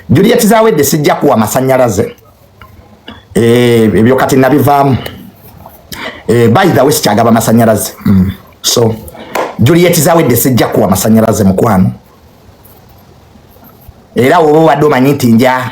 Juliet Zawedde sijja kuwa masanyalaze eh, ebyo kati nabivaamu eh, by the way sikyagaba masanyalaze mm. so Juliet Zawedde sijja kuwa masanyalaze mukwano era woba obadde omanyi nti nja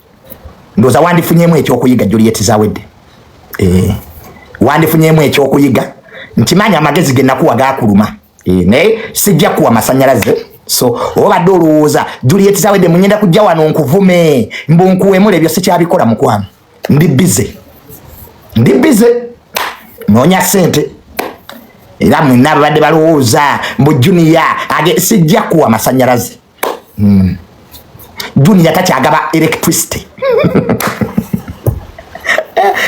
ndoza wandifunyemu ekyokuyiga Juliet Zawedde eh wandifunyemu ekyokuyiga nkimanyi amagezi ge nakuwa gakuluma eh naye sijja kuwa masanyalaze so obadde olowooza Juliet Zawedde munyenda kujja wano nkuvume mbu nkuwemule ebyo sikyabikola mukwano ndi busy ndi busy nonya sente era mwenna babadde balowooza mbu junior age sijja kuwa masanyalaze mm. junior takyagaba electricity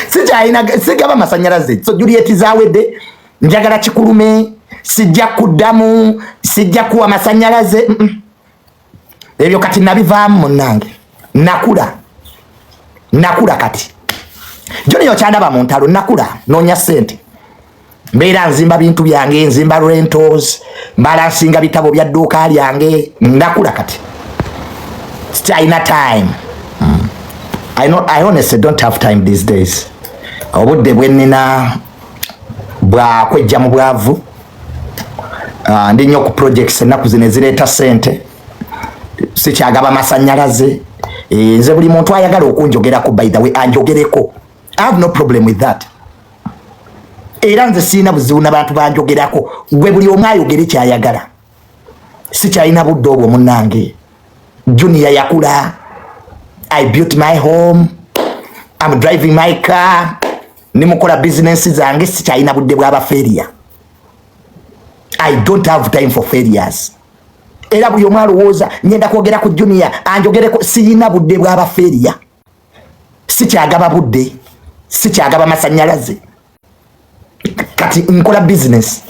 sikyalina sigaba masanyalaze so juliet zawedde njagala kikulume sijja kuddamu sijja kuwa masanyalaze mm -mm. ebyo kati nabivaamu munange nakula nakula kati joni yokyandaba mu ntalo nakula nonya sente mbeera nzimba bintu byange nzimba rentals mbala nsinga bitabo bya dduuka lyange ndakula kati sikyalina time hmm. I, know, i honestly don't have time these days obudde bwenina bwakwejja mu bwavu uh, ndi nnyo ku projects ennaku zino ezireeta sente sikyagaba masanyalaze eh, nze buli muntu ayagala okunjogerako by the way anjogereko i have no problem with that era nze sirina buzibu nabantu banjogerako gwe buli omu ayogere kyayagala sikyalina budde obwo munange junior yakula i built my home am driving my car nimukola bizinensi zange sikyalina budde bwaba failure i don't have time for failures era buli omu alowooza ngenda kwogera ku junior anjogereko siyina budde bwaba failure sikyagaba budde sikyagaba masanyalaze kati nkola bizinesi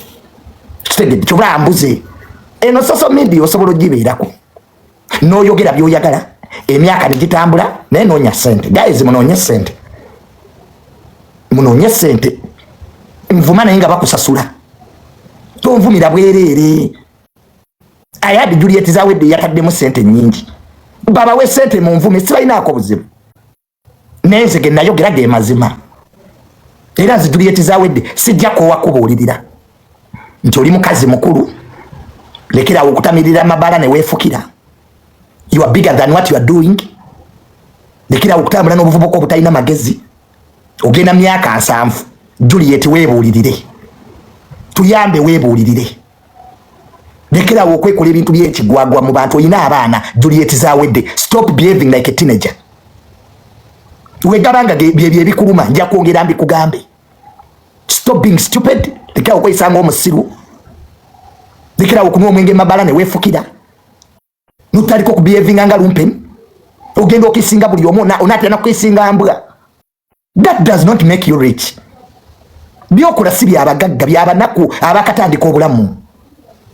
kitegedde kyobula ambuze eno social media osobola ogibeerako n'oyogera byoyagala emyaka negitambula naye noonya sente guys munoonye sente munoonye sente nvuma naye nga bakusasula tonvumira bwereere ayadi juliet zawedde yataddemu sente nyingi babawe sente mu nvume sibalinaako buzibu naye nze genayogera ge mazima era nze juliet zawedde sijja koowa kubuulirira nti oli mukazi mukulu lekerawo okutamirira amabala newefukira you are bigger than what you are doing lekerawo okutambula n'obuvubuka obutalina magezi ogenda myaka nsanvu juliet webuulirire tuyambe webuulirire lekerawo okwekola ebintu byekigwagwa mu bantu olina abaana juliet zawedde stop behaving like a teenager wegabanga byebyo ebikuluma nja kwongera mbikugambe stop being stupid lekerawo okweyisanga omusiru lekerawo okunywa omwenge mabala newefukira nutaliko kubehavinga nga lumpen ogenda okisinga buli omu onatera nakukisinga mbwa that does not make you rich byokola si byabagagga byabanaku abakatandika obulamu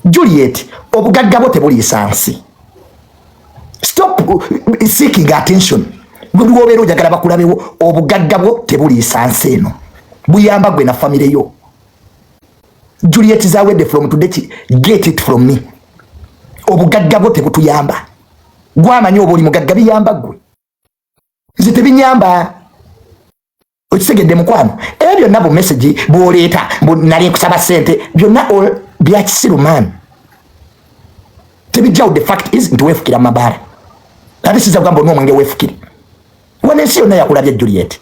juliet obugagga bwo tebuliisa nsi stop uh, seeking attention bwebiwobeera ojagala bakulabewo obugagga bwo tebuliisa nsi eno buyamba gwe na famire yo Juliet Zawede from today get it from me. Obugagga bwo tebutuyamba. Gwamanyi obo oli mugagga biyamba gwe. Nze tebinyamba. Okitegedde mukwano. Ebyo byonna bu message bw'oleeta bu nali nkusaba ssente byonna bya kisiru man. Tebijjawo the fact is nti weefukira mabaala. Ate siza kugamba onwa omwenge weefukire. Wana ensi yonna yakulabya Juliet.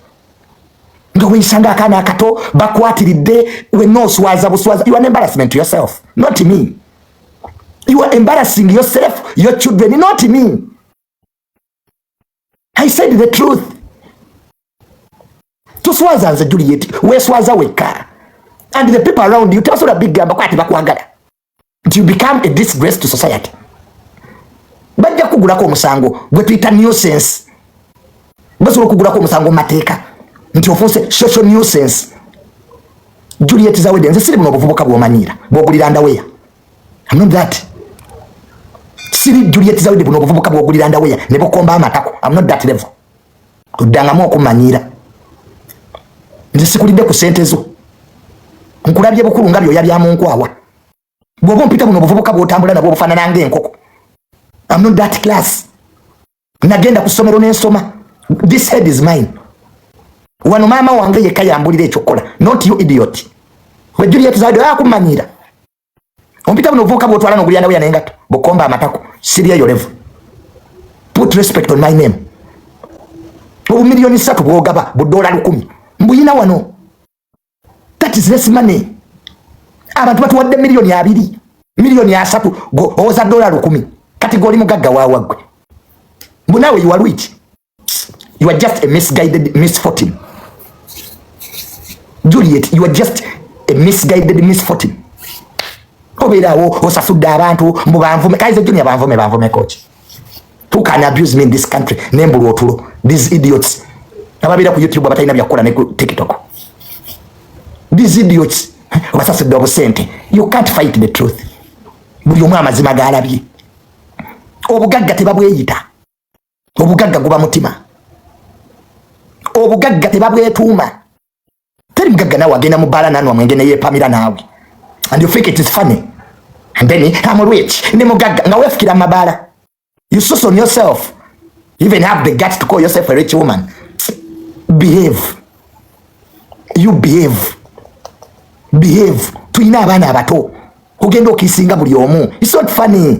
nga weyisanga akaana akato bakwatiridde wenna oswaza buswaza you are an embarrassment to yourself not me you are embarrassing yourself your children not me i said the truth toswaza nze juliet weswaza wekka and the people around you tebasobola bigamba kwati bakwagala you become a disgrace to society bajja kugulako omusango gwe tuyita nuisance basobola okugulako omusango mumateeka nti ofuuse social nuisance juliet zawede nze siri buno obuvubuka bwomanyiira bwogulira ndaweya amnon that siri juliet zawede buno obuvubuka bwogulira ndaweya ne bukomba amatako amnon that level oddangamu okumanyiira nze sikulidde ku sente zo nkulabye bukulu nga byoya bya munkwawa bwoba ompita buno obuvubuka bwotambula nabwo obufanana nga enkoko am not that class nagenda ku ssomero nensoma this head is mine wano maama wange yekka yambulira ekyokukola not you idiot we juliet zade akumanyira ompita buno ovuuka bwotwala nogulya nawe yanengato bukomba amatako sibyeyo level put respect on my name obumiliyoni satu bwogaba budola lukumi mbuyina wano that is less money abantu batuwadde miliyoni abiri miliyoni asatu owoza dola lukumi kati goli mugagga wawagwe mbunawe iwalwiki you are just a misguided misfortune Juliet you are just a misguided misfortune obeerawo osasudde abantu mbu banvume kaize junior banvume banvume coach who can abuse me in this country nembulwa otulo these idiots ababeera ku youtube abatalina byakukola ne ku tiktok these idiots obasasudde obusente you can't fight the truth buli omu amazima galabye obugagga tebabweyita obugagga guba mutima obugagga tebabwetuuma teri mugagga naawe agenda mu bbaala nanwa mwenge neyepamira naawe and you think it is funny and then am rich ne mugagga nga wefikira mu mabaala you sus on yourself you even have the guts to call yourself a rich woman behave you behave behave tulina abaana abato ogenda okisinga buli omu it's not funny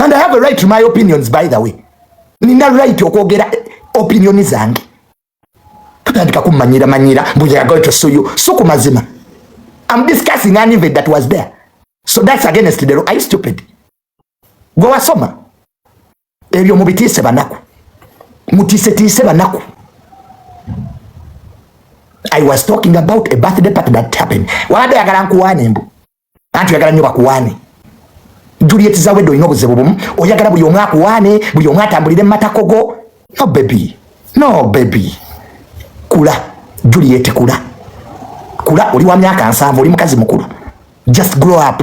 and i have a right to my opinions by the way nina right okwogera eh, opinioni zange tutandika kumanyira manyira mbuyagoitosuyu so ku mazima am discussing an event that was there so that's against the law are you stupid gwe wasoma ebyo mubitiise banaku mutiisetiise banaku i was talking about a birthday party that happened wabadde oyagala nkuwaane mbu anti oyagala nnyo bakuwaane juliet zawedde olina obuzibu bumu oyagala buli omu akuwaane buli omu atambulire mumatakogo no bebi no bebi kula juliet kula kula oli wa myaka nsanvu oli mukazi mukulu just grow up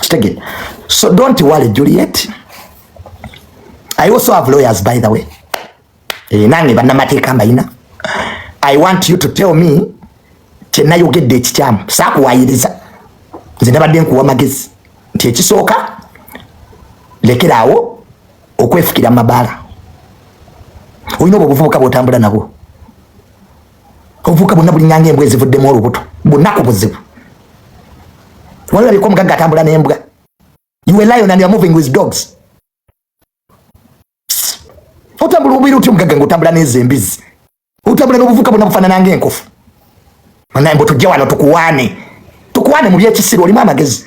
kitegere so don't worry juliet i also have lawyers by the way e, nange bannamateeka mbayina i want you to tell me kyenayogedde ekikyamu sakuwayiriza nze nabadde nkuwa magezi nti ekisooka lekeraawo okwefukira mabaala olina obwo obuvubuka bwotambula nabwo obuvuka bonna bulinyanga embwa ezivuddemu olubuto bunaku buzibu walabika omugagga atambula n'embwa you are lion and you are moving with dogs otambula obubeera otya omugagga ngaotambula n'ezo embizi otambula n'obuvuka bonna bufaanana ngaenkofu naye mbu tujje wano tukuwaane tukuwaane mu byekisiru olimu amagezi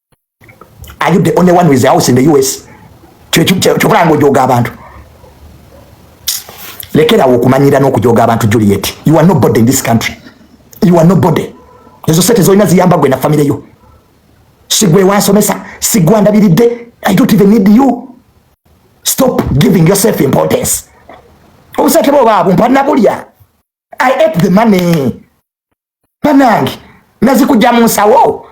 are you the only one with a house in the us kyokola nga ojoga abantu lekerawo okumanyira n'okujoga abantu juliet you are nobody in this country you are nobody ezo sente zolina ziyamba gwe na famire yo sigwe wansomesa sigwandabiridde i don't even need you stop giving yourself importance obusente bwo baabumpa nabulya i ate the money banange nazikuja mu nsawo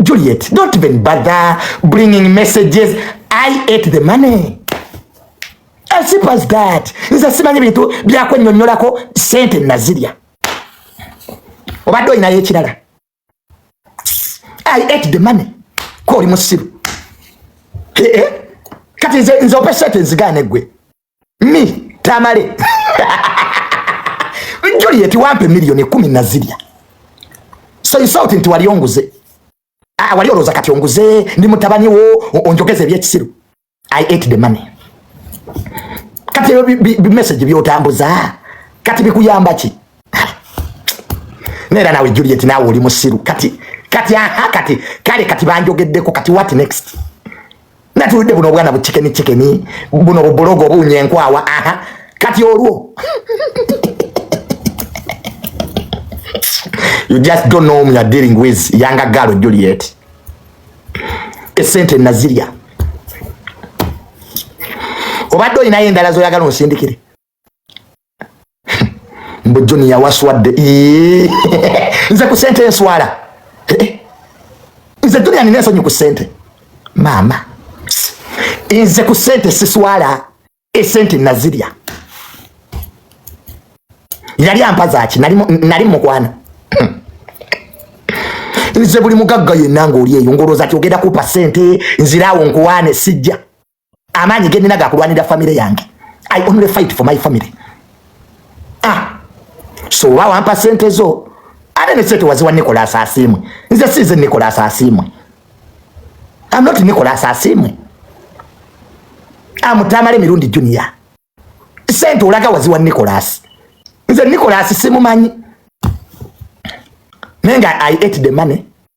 Juliet don't even bother bringing messages I ate the money as simple as that nze simanyi bintu byakwenyonyolako sente nazirya obadde olinayo ekirala I ate the money ko oli musiru eh, eh. kati nze opesete nzigaane gwe mi tamale Juliet wampe milioni kumi na zilya so insult nti wali onguze ah, wali oloza kati onguze ndi mutabani wo onjogeze ebyekisiru i ate the money kati ebyo bimessage byotambuza kati bikuyamba ki nera nawe Juliet nawe oli musiru kati kati aha kati kale kati banjogeddeko kati what next natulidde buno obwana buchikeni chikeni buno bubulogo obunye enkwawa aha kati olwo you just don't know whom you are dealing with yanga galo Juliet esente nazirya obadde olinayo endala zoyagala onsindikire mbu joni yawaswadde nze ku sente enswala eh, eh. nze joni anina ensonyi ku sente maama nze ku sente siswala esente nazirya yali ampazaki nali mukwana nze buli mugagga yenna ngaoli eyo ngolwoza ti ogenda kupa sente nziraawo nkuwaane sijja amaanyi ge nnina gakulwanira famire yange i only fight for my family ah so oba wampa sente zo ate ne sente waziwa nicolas asiimwe nze siize nicolas asiimwe am not nicolas asiimwe amutamale mirundi junior sente olaga waziwa nicolas nze nicolas simumanyi naye nga i ate the money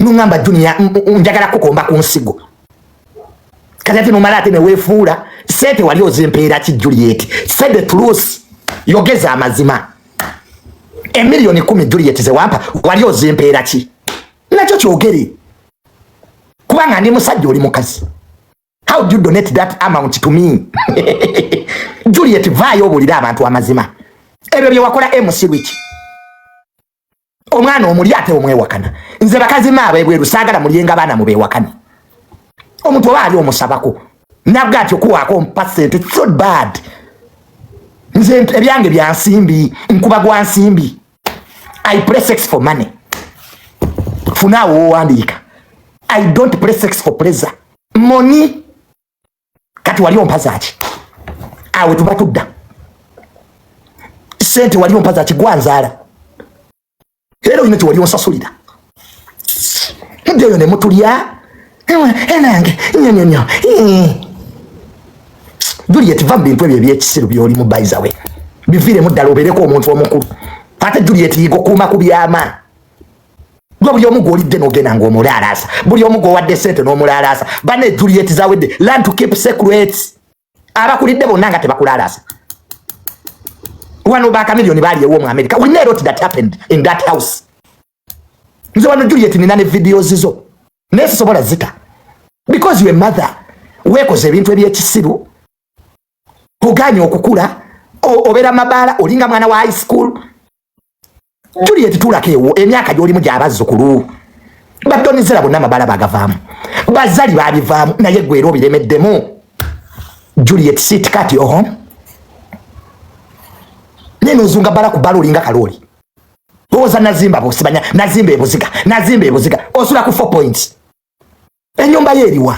nungamba junior njagala kukomba ku nsigo kati ate nomala ate newefuula sente wali ozimpeera ki juliet say the truth yogeza amazima emiliyoni kumi juliet zewampa wali ozimpeera ki nakyo kyogere kubanga ndi musajja oli mukazi how do you donate that amount to me juliet vaayo obulire abantu amazima ebyo byewakola emusirwiki omwana omuli ate omwewakana nze bakazi maabo ebweru saagala mulyenga baana mubewakane omuntu oba ali omusabako nabwe ati okuwaako mpa sente so bad nze ebyange bya nsimbi nkuba gwa nsimbi i play sex for money funaawo owandiika i don't play sex for pleasure moni kati wali ompazaki awe tuba tudda sente wali ompazaki gwanzaala era olina kyewali onsasulira egeyo nemutulya enange nyonyonyo juliet va mubintu ebyo ebyekisiru byolimu baizawe biviiremu ddala obeereko omuntu omukulu ate juliet yiga okuuma ku byama gwe buli omu gwolidde nogenda nga omulaalaasa buli omu gwowadde sente n'omulaalaasa bane juliet zawedde learn to keep secrets abakulidde bonna nga tebakulaalaasa wano bakamiliyoni baliyewo mu america we know what that happened in that house nze wano juliet nina ne videos zo naye sisobola zita because your mother wekoze ebintu ebyekisiru oganye okukula obera mabala olinga mwana wa high school Juliet tulaka ewo emyaka gyolimu gyabazzukulu badonizera bonna amabala bagavaamu bazali babivaamu naye gwera obiremeddemu Juliet sit cut your home naye nozunga bala ku bala olinga kalooli owoza nazimba bosibanya nazimba ebuziga nazimba ebuziga osula ku four points enyumba ye eriwa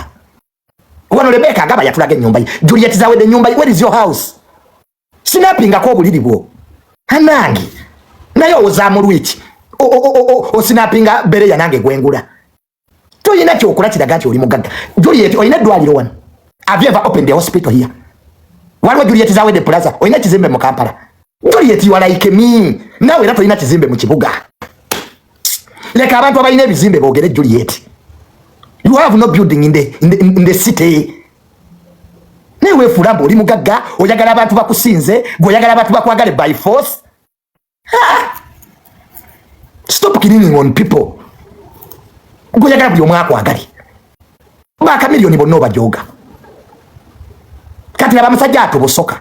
wano lebeka agaba yatulaga enyumba ye juliet zawede enyumba ye where is your house sinapingako obuliri bwo anange naye owozamu lwiki osinapinga bere yanange gwengula toyina kyokola kiraga nti oli mugagga juliet olina eddwaliro wano have you ever opened a hospital here waliwo juliet zawede plaza olina ekizimbe mu kampala Juliet you are like me nawe era tolina kizimbe mu kibuga leka abantu abalina ebizimbe boogere Juliet you have no building in the, in the, in the city naye weefuula mbu oli mugagga oyagala abantu bakusinze gwe oyagala abantu bakwagale by force ha! stop killing on people gwe oyagala buli omu akwagale bakamiliyoni bonna obajoga kati laba musajja atubusoka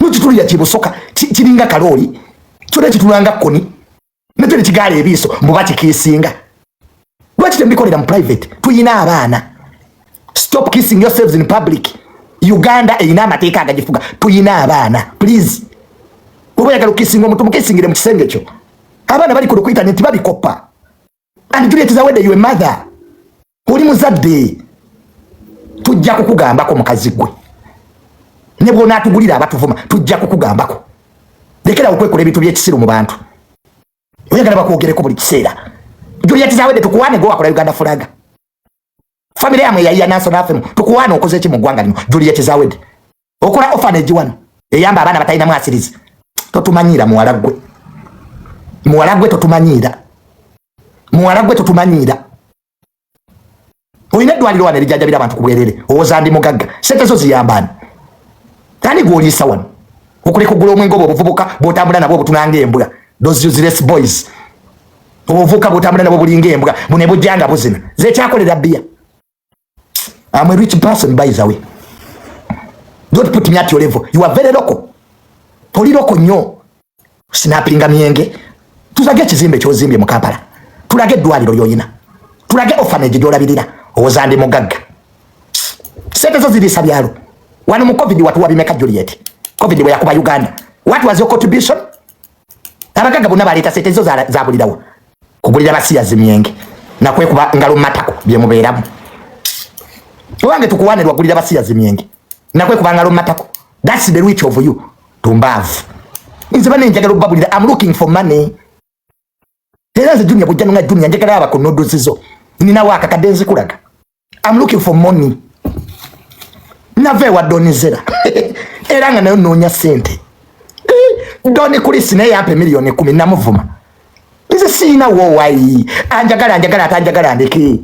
nokitulira kyebusoka kiringa kalooli kyona ekitulanga koni nakyo nekigaala ebiiso mbu bakikiisinga lwaki tembikolera mu private tuyina abaana stop kissing yourselves in public uganda eyina amateeka agagifuga tuyina abaana please oba yagala okisinga omuntu mukisingire mu kisenge kyo abaana bali ku lukuita nti babikoppa and great zawedde your mother oli muzadde tujja kukugambako mukazi gwe ne bwonaatugulira abatuvuma tujja kukugambako lekera okwekola ebintu byekisiru mu bantu oyagala bakwogereko buli kiseera juliet zawedde tukuwane gwe wakola uganda fulaga famire yamwe yayiya nanso nafemu tukuwane okoze ki mu ggwanga lino juliet zawedde okola orphanage wano eyamba abaana batalina mwasirizi totumanyiira muwala gwe muwala gwe totumanyiira muwala gwe totumanyiira olina eddwaliro wano erijajabira abantu ku bwerere owoza ndi mugagga sente zo ziyambaani ani gwoliisa wano okuleka ogula omwenge obwo obuvubuka bwotambula nabwo obutunanga embwa those useless boys obuvubuka bwotambula nabwo bulinga embwa bune bujjanga buzina zekyakolera bbiya I'm a rich person by the way. Don't put me at your level. You are very local. Poli local nyo. Sinapinga mienge. Tuzage kizimbe kyozimbye mu Kampala. Tulage dwaliro yoyina. Tulage orphanage gyolabirira. Ozande mugagga. Sente zo zirisa byalo. Wano mu COVID watu wabimeka Juliet. COVID bwe yakuba Uganda. What was your contribution? abagagga bonna baleeta sente zo zabulirawa kugulira basiyazi myenge nakwekuba ngalo matako byemubeeramu owange tukuwane lwagulira basiyazi myenge nakwekuba ngalo matako thats the rich of you tumbaavu nze bane njagala okubabulira am looking for money Era nze Junior bujja nga Junior njagala aba ku noodles zo. Nina waka kadenzi kulaga. I'm looking for money. Nave wa doni zera. Era nga nayo nonya sente. Eh, doni kulisi naye ampe milioni 10 namuvuma. Nze sina wo wai. Anjagala anjagala atanjagala andeke.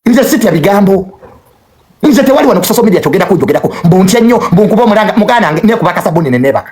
Nze sitya bigambo. Nze tewali wano ku social media chogera kujogerako. Mbu ntya nnyo, mbu nkuba omulanga mugana ne kubaka sabuni ne nebaka.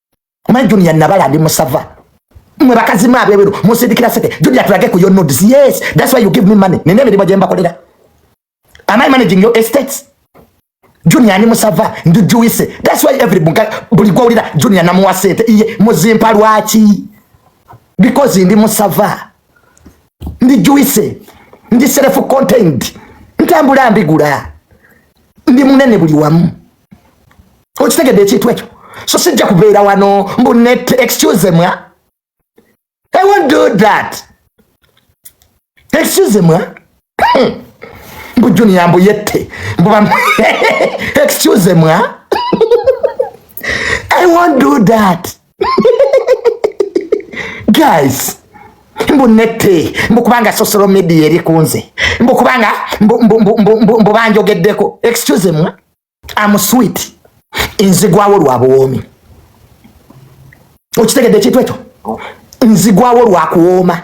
omanyi junior nabala ndi musava mwe bakazi mwe abebero musindikira sente junior tulage ku your nodes yes that's why you give me money nina emirimu gye mbakolera am i managing your estates junior ni musava ndi juice that's why every bunga buli gwawulira junior namuwa sente iye muzimpa lwaki because ndi musava ndi juice ndi self contained ntambula mbigula ndi munene buli wamu okitegedde ekintu ekyo so sijja kubeera wano mbu net excuse mwa i won't do that excuse mwa hmm. mbu junior mbu yette mbu excuse mwa i won't do that guys mbu nette mbu kubanga social media eri kunze mbu kubanga mbu banjogeddeko excuse me am sweet nzigwawo lwa buwoomi okitegedde ekintu ekyo nzigwawo lwa kuwooma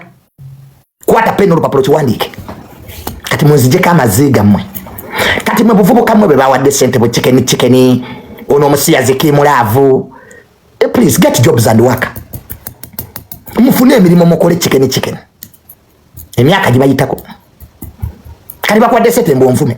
kwata peni olupapula okiwandiike kati munzijeko amazzi gammwe kati mwe buvubuka mmwe bwe bawadde sente bwe kikeni kikeni ono omusiyazi kimulaavu eh, please get jobs and work mufune emirimu mukole kikeni kikeni emyaka gibayitako kati bakuwadde sente mbwonvume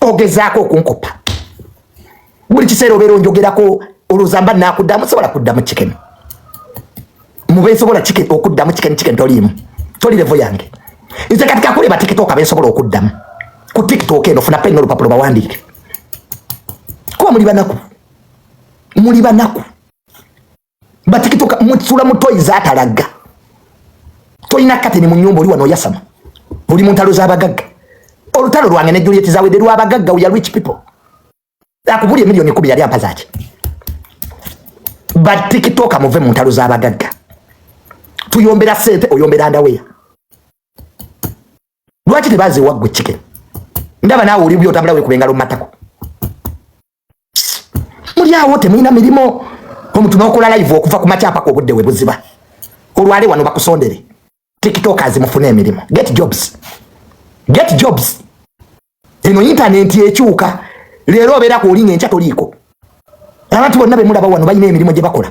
ogezaako okunkupa buli kiseera obeera onjogerako oluzamba nakuddamu sobola kuddamu kikeni mubensobola okuddamu kikeni kikeni toliimu toli levo yange nze kati kakule batikitoka bensobola okuddamu ku tiktok eno funa pena olupapula bawandiike kuba muli banaku muli banaku batikitoka mutsula mutoyi zatalaga tolina kateni mu nyumba oli wano oyasama oli mu ntalo z'abagagga olutalo lwange ne juliet zawedde lw'abagagga uya rich people akubuli emiliyoni ekumi yali ampa zaki batikitoka muve mu ntalo z'abagagga tuyombera sente oyombera ndaweya lwaki tebaziwa gwe chicken ndaba naawe oli byotambula wekubengalo mu matako muli awo temulina mirimu omuntu nokola live okuva ku makyapa ku obudde webuziba olwale wano bakusondere tiktokers mufune emirimu get jobs get jobs eno intanenti ekyuka leero obeera ku olinga enkya toliiko abantu bonna bemulaba wano balina emirimu gye bakola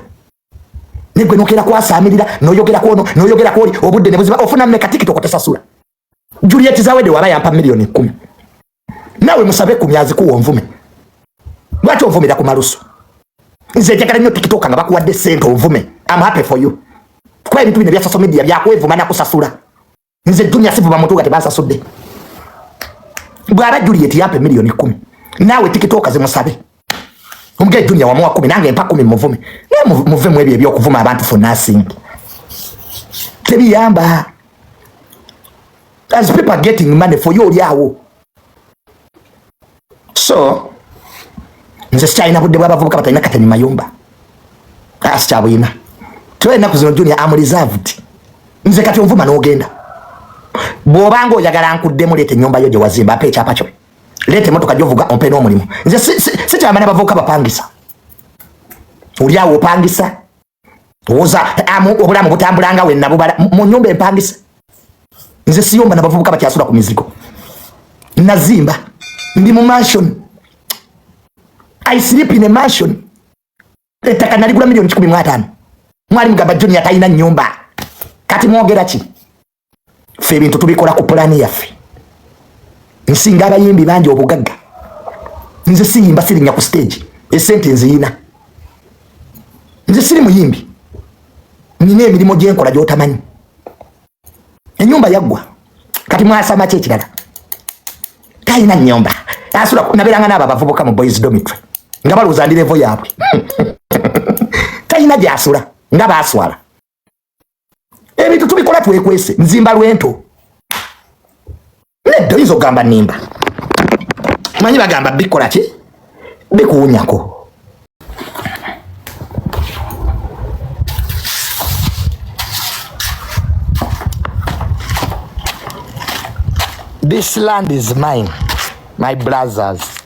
negwe nokera kwasaamirira noyogera kwono noyogera kwoli obudde nebuziba ofuna meka tiktok tesasula Juliet Zawede waba yampa milioni kumi nawe musabe kumi azikuwa onvume lwaki onvumira ku malusu nze njagala nnyo tikitoka nga bakuwadde sente onvume am happy for you kuba ebintu bino ebya social media byakwevuma nakusasula nze junior sivuma muntu nga tebansasudde bwaba Juliet yampa milioni kumi nawe tikitoka zimusabe Omugaye Junior wamuwa kumi nange mpa kumi muvume. Naye muve mu ebyo eby'okuvuma abantu for nothing. Tebiyamba. As people are getting money for you oli awo. So nze sikyalina budde bw'abavubuka batalina kateni mayumba. Asi kyabuyina. Tuwe ennaku zino Junior am reserved. Nze kati onvuma n'ogenda. Bw'obanga oyagala nkuddemu leeta ennyumba yo gye wazimba mpa ekyapa kyo. leeta emotoka gyovuga ompe n'omulimu nze sikyamana bavubuka bapangisa olyawo opangisa owoza obulamu butambulanga wenabubala mu nyumba empangisa nze siyomba nabavubuka bakyasula ku mizigo nazimba ndi mu mansion i sleep in a mansion ettaka naligula milioni kikumi mu ataano mwali mugamba junior talina nyumba kati mwogera ki fe ebintu tubikola ku pulaani yaffe nsinga abayimbi bangi obugagga nze siyimba sirinya ku stage esente nziyina nze siri muyimbi nina emirimu gyenkola gyotamanyi enyumba yaggwa kati mwasama ki ekirala talina nyumba asula naberanga naabo abavubuka mu boys domitry nga balowooza ndi levo yaabwe talina gyasula nga baswala ebintu tubikola twekwese nzimba lwento nedda oyinza okugamba nimba manyi bagamba bikola ki bikuwunyako This land is mine, my brothers.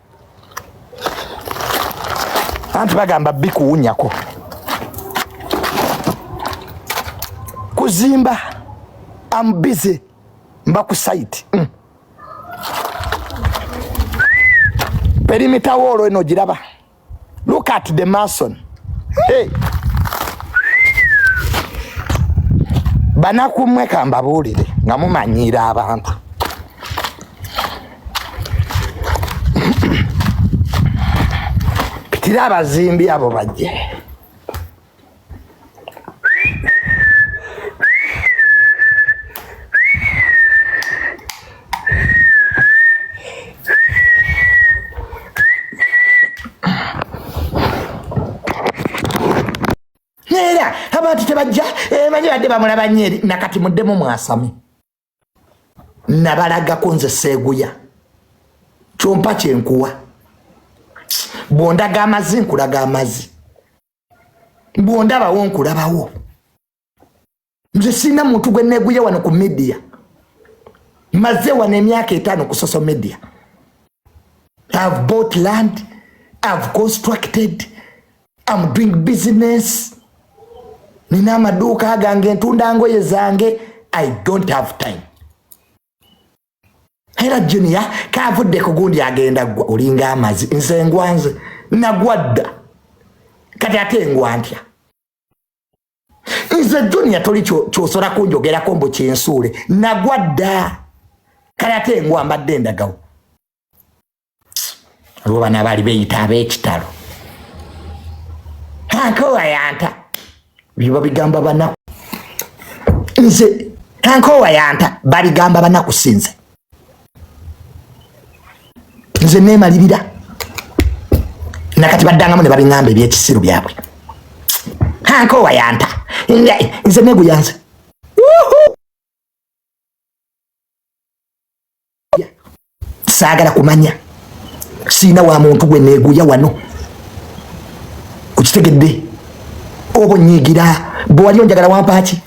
anti bagamba bikuwunyako kuzimba am busy mba ku site mm. perimita woolo eno giraba look at the mason hey. banakumwe kambabuulire nga mumanyiira abantu Pitira abazimbi abo bajje. bajja eh, bajja badde bamulaba nyeri nakati muddemu mwasame nabalagako nze seeguya kyompa kyenkuwa bwondaga amazi nkulaga amazi bwondabawo nkulabawo nze sirina muntu gwe neeguya wano ku midiya maze wano emyaka etaano ku social media have bought land have constructed am doing business nina amaduuka gange ntunda ngoye zange i don't have time era junior kavudde ku gundi agenda gwa olinga amazi nze ngwanze nagwa dda kati ate ngwa ntya nze junior toli kyosola kunjogerako mbu kyensuule nagwa dda kati ate ngwa mbadde ndagawo olwo bana baali beyita ab'ekitalo kankoowa yanta byo babigamba banaku nze kankoowa yanta babigamba banaku sinze nze nemalirira nakati baddangamu ne babingamba ebyekisiru byabwe kankoowa yanta nze neguyanze saagala kumanya siina wa muntu gwe neeguya wano okitegedde oba onyiigira bwe wali onjagala wampaaki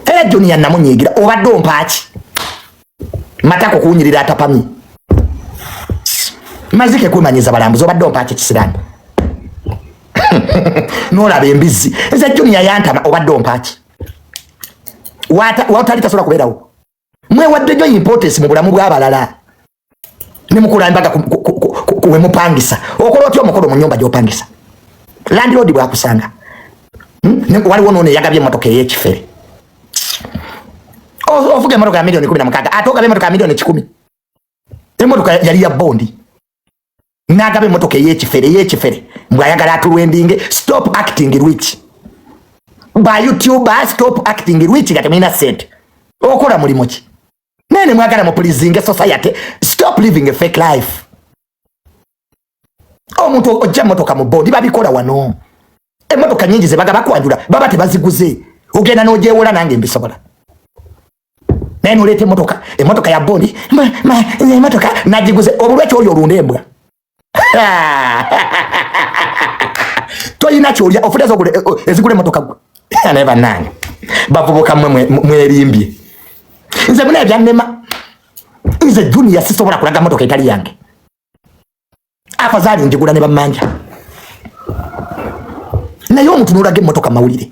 era juniya namunyiigira obadde ompaaki matako kuwunyirira atapamye mazike kwemanyiza balambuzi obadde ompaaki kisirani nolaba embizzi eza juniya yantama obadde ompaaki watali tasobola kubeerawo mwewadde nyo importance mu bulamu bw'abalala ne mukula embaga kuwe mupangisa okola otya omukolo mu nyumba gy'opangisa landlord bwakusanga hmm? waliwo noono eyagabye emotoka ey'ekifere ovuga emotoka ya milioni kumi na mukaaga ate ogaba emotoka ya milioni kikumi emotoka yali ya bondi nagaba emotoka eyekifere eyekifere mbu ayagala atulwendinge stop acting rich ba youtube stop acting rich nga temulina sente okola mulimu ki naye nemwagala mupulizinge society stop living a fake life omuntu ojja motoka mu bondi babikola wano emotoka nyingi zebagaba kwanjula baba tebaziguze ogenda nojewola nange mbisobola naye noleeta emotoka emotoka ya bondi emotoka nagiguze obulwa kyoli olunda embwa toyina kyolya ofuta ezigula eh, oh, emotoka gwe naye banange bavubuka mwe mwerimbye nze muna ebyannema nze juniya sisobola kulaga motoka etali yange afazaali njigula ne bamanja naye omuntu nolaga emotoka mawulire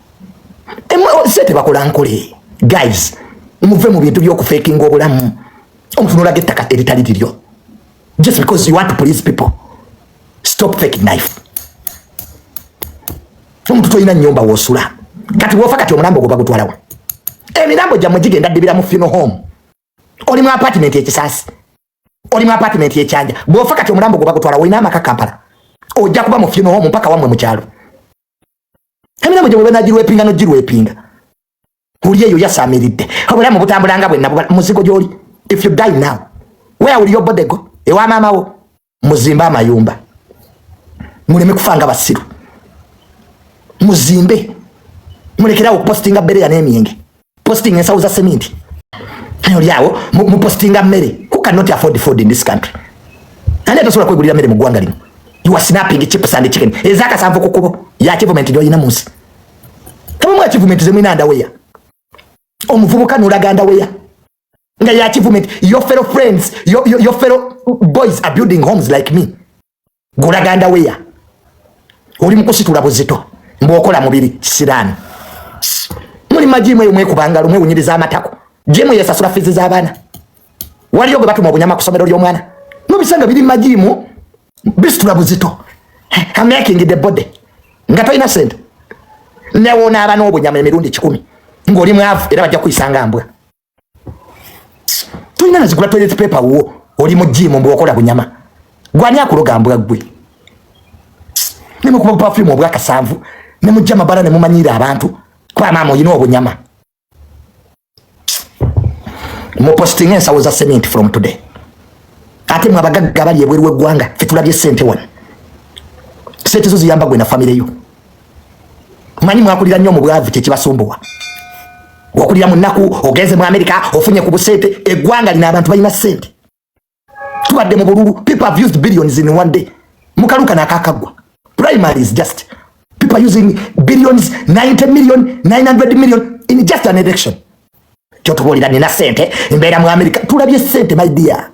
se tebakola nkole guys muve mu bintu byokufekinga obulamu omutunulaga ettaka eritali liryo just because you want to please people stop faking life omuntu tolina nyumba wosula kati wofa kati omulambo ogwo bagutwalawo emirambo gyammwe gigenda ddibira mu funeral home oli mu apartment ekisaasi oli mu apartment ekyanja bwofa kati omulambo ogwo bagutwalawo olina amaka kampala ojja kuba mu funeral home mpaka wamwe mu kyalo emirembo gye bwebanagirwepinga nogirwepinga oli eyo yasamiridde obulamu butambulanga bwenna muzigo gyoli if you die now where will your body go ewa maama wo muzimbe amayumba muleme kufa nga basiru muzimbe mulekerawo okupostinga bereya n'emyenge posting ensawo za seminti ayo lyawo mupostinga mmere who cannot afford food in this country ani atasobola kwegulira mmere mu ggwanga lino you are snapping chips and chicken ezakasanvu ku kubo ya achievement gyoyina munsi tabamu achievement zemwina ndaweya omuvubuka nolaga ndaweya nga ya achievement your fellow friends your, your, your fellow boys are building homes like me gulaganda weya oli mukusitula buzito mbwokola mubiri kisiraani muli majimu eyo mwekubangalo mwewunyiriza amatako jemu yesasula fizi z'abaana waliyo gwe batuma obunyama ku somero ly'omwana nobisanga biri majimu bisitula buzito amaking the body nga tolina sente newonaaba n'obunyama emirundi kikumi ng'oli mwavu era bajja kuyisanga mbwa tulina nazigula toilet paper wo oli mu jimu mbu okola bunyama gwani akuloga mbwa gwe nemukuba bupafulimu obwakasanvu nemujja mabala nemumanyiira abantu kuba maama olina obunyama mupostinga ensawo za cement from today ate mwe abagagga abali ebweru w'eggwanga fetulabye sente wano sente zo ziyamba gwe na famire yo manyi mwakulira nnyo mu bwavu kyekibasumbuwa okulira mu nnaku ogenze mu amerika ofunye ku busente eggwanga lino abantu balina sente tubadde mu bululu people have used billions in one day mukaluka nakakagwa primary is just people using billions 90 million 900 million in just an election kyotubuulira nina sente mbeera mu america tulabye sente my dear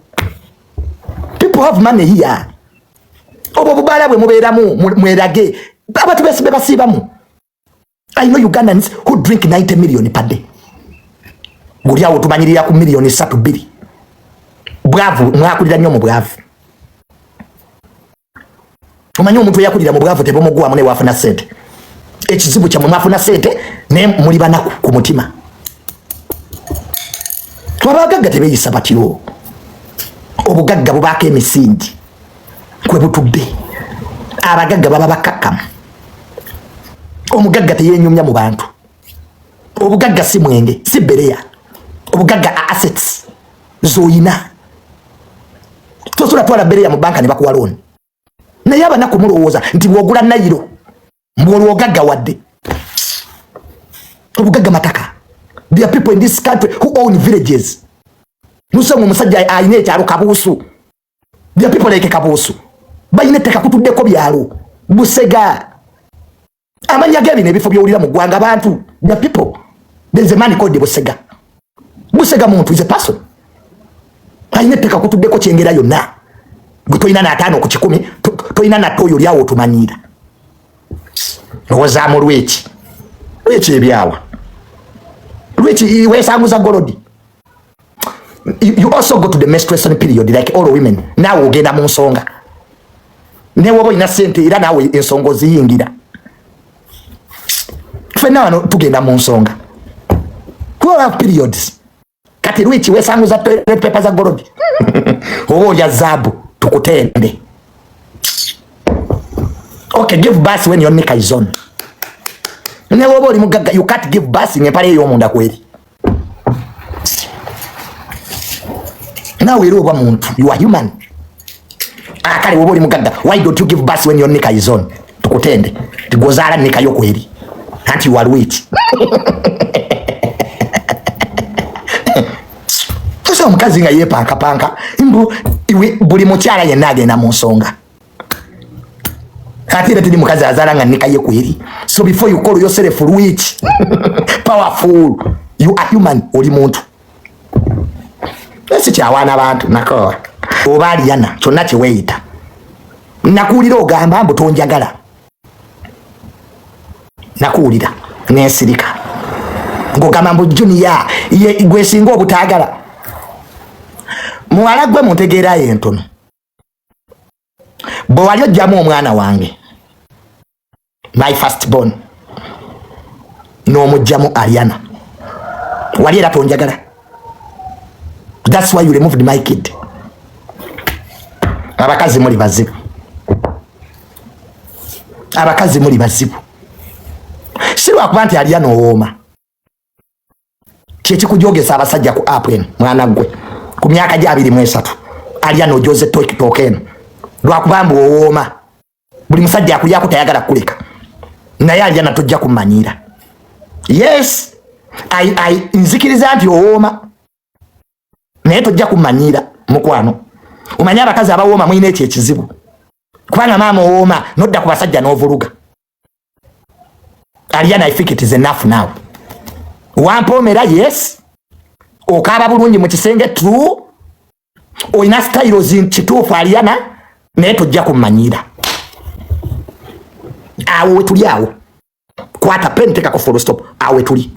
people have money here obwo obubaala bwe mubeeramu mwerage abantu besibe basiibamu i know ugandans who drink 90 million per day guli awo tumanyirira ku million satu biri bwavu mwakulira nnyo mu bwavu omanyi omuntu eyakulira mu bwavu tebumuggwamu naye wafuna sente ekizibu kyamwe mwafuna sente naye muli banaku ku mutima twabagagga tebeyisa batyo obugagga bubaako emisingi kwe butudde abagagga baba bakakkamu omugagga teyenyumya mu bantu obugagga si mwenge si bereya obugagga a assets zoyina tosobola twala bereya mu banka ne bakuwa looni naye abanaku mulowooza nti bwogula nayiro mbwolwo ogagga wadde obugagga mataka there are people in this country who own villages musanga omusajja alina ekyalo kabuusu there are people like kabuusu balina ettaka kutuddeko byalo busega amanya ge bino ebifo byowulira mu ggwanga abantu the people there is a man called busega busega muntu is a person alina etteka kutuddeko kyengera yonna gwe tolina nataano ku kikumi tolina natta oyo olyawo otumanyiira owozaamu lweki lweki ebyawa lweki wesanguza golodi you also go to the menstruation period like all women naawe ogenda mu nsonga newoba olina sente era naawe ensonga oziyingira fena wano tugenda mu nsonga twelve periods kati lwiki wesanguza pepa za golodi oba olya zaabu tukutende okay give bus when your nika is on newoba oli mugagga you can't give bus ngempala eyomunda kweri nawe era oba muntu you are human akale ah, woba oli mugagga why don't you give birth when your nika is on tukutende tigozaala nika yo kweri anti you are wit omukazi nga yepankapanka mbu buli mukyala yenna agenda mu nsonga kati era tuli mukazi azala nga nikaye kweri so before you call yourself rich powerful you are human oli muntu esi kyawaana abantu nako oba aliyana kyonna kyeweyita nakuwulira ogamba mbu tonjagala nakuwulira nensirika ngogamba mbu juniya gwesinga obutagala muwala gwe muntegeerayo entono bwe wali ojjamu omwana wange my first born n'omujjamu ariana wali era tonjagala thats why you removed my kid abakazi muli bazibu abakazi muli bazibu si lwakuba nti ariana owooma kyekikujogesa abasajja ku app eno mwana gwe ku myaka gye abiri mu esatu alya nojoze tokitoka eno lwakuba mbu owooma buli musajja akulyako tayagala kukuleka naye alya natojja kumanyiira yes I, I, nzikiriza nti owooma naye tojja kumanyiira mukwano omanyi abakazi abawooma mulina ekyo ekizibu kubanga maama owooma nodda ku basajja n'ovuluga Aliana, I think it is enough now. Wampomera, yes. Okaba bulungi mu kisenge true. Oyina style zin kituufu Aliana, naye tujja kumanyira. Awo wetuli awo. Kwata pen teka ku full stop. Awo wetuli.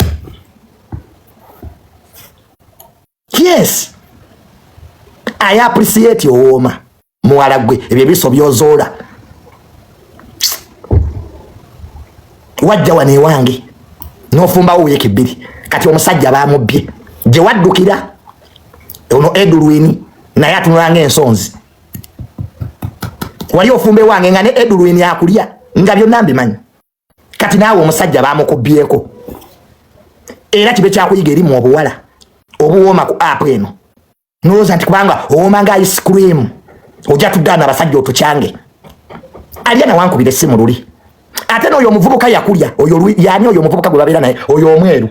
yes i appreciate owooma muwala gwe ebyo ebiso byozoola wajja wano ewange nofumbawo wiiki bbiri kati omusajja bamubbye gye waddukira ono edulwini naye atunulanga ensonzi wali ofumba ewange nga ne edulwini akulya nga byonna mbimanyi kati naawe omusajja bamukubyeko era kibe kyakuyiga eri mu obuwala obuwooma ku app eno nolowooza nti kubanga owooma nga ice cream ojja tugaana abasajja otukyange alya nawankubira essimu luli ate nooyo omuvubuka yakulya oyo yani oyo omuvubuka gwe babeera naye oyo omweru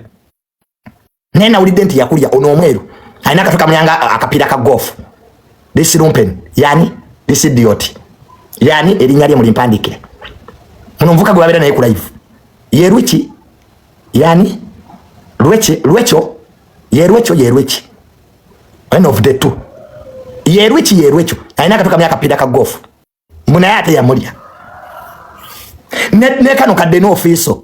naye nawulidde nti yakulya ono omweru alina akatu kamuyanga akapiira ka golf this lumpen yani this idiot yani erinnya lye mulimpandikire ono omuvuka gwe babeera naye ku live ye lweki yani lweki lwekyo ye lwekyo ye lweki one of the two ye lweki ye lwekyo alina akatu kamuyanga akapiira ka golf mbu naye ate yamulya ne, ne kano kadde n'ofiiso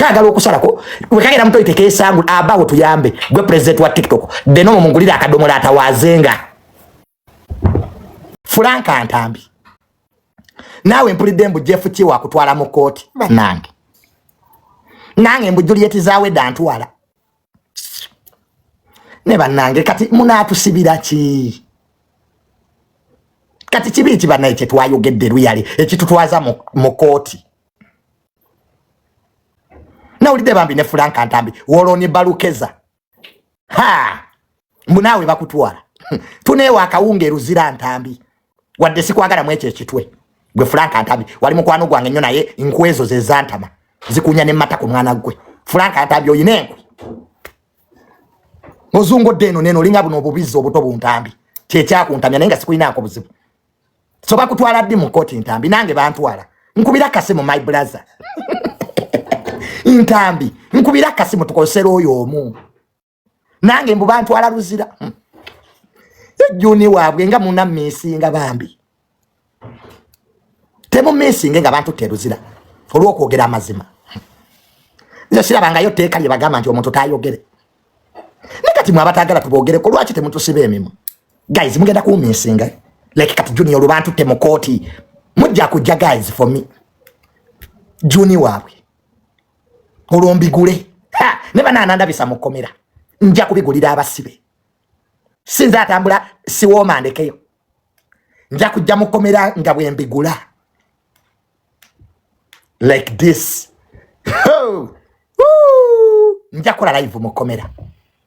kagala okusalako wekagera muto iteke esangu abawo tuyambe gwe president wa tiktok deno mumungulira akadomola atawazenga fulanka ntambi naawe mpulidde mbu jeff kiwa akutwala mu kooti banange nange mbu juliet zawe dantwala ne banange kati munatusibira ki kati kibi ki banaye kyetwayogedde luyale ekitutwaza mu kooti nawulidde bambi ne fulanka ntambi woloni balukeza ha mbu naawe bakutwala tuneewa akawunga eruzira ntambi wadde sikwagala mu ekyo ekitwe gwe fulanka ntambi wali mukwano gwange nnyo naye nkwezo ze zantama zikunya ne mata ku mwana gwe fulanka ntambi oyina enkwe ozungodde eno neno olinga buno obubizzi obuto buntambi kyekyakuntamya naye nga sikulinaako buzibu so bakutwala ddi mu kkooti ntambi nange bantwala nkubira kasimu my brother ntambi nkubira kasimu tukosera oyo omu nange mbu bantwala luzira hmm. ejuni waabwe nga muna misinga bambi temu misinge nga bantu teruzira olwokwogera amazima hmm. nze sirabangayo teeka lye bagamba nti omuntu tayogere ne kati mwe abatagala tubogereko lwaki temutusiba emimwa guys mugenda kuwuminsinga like kati junior lubantu te mukooti mujja kujja guys for me juni waabwe olwo mbigule ne banaanandabisa mukomera nja kubigulira abasibe sinza atambula siwooma ndekeyo nja kujja mukomera nga bwembigula like this nja kola live mukomera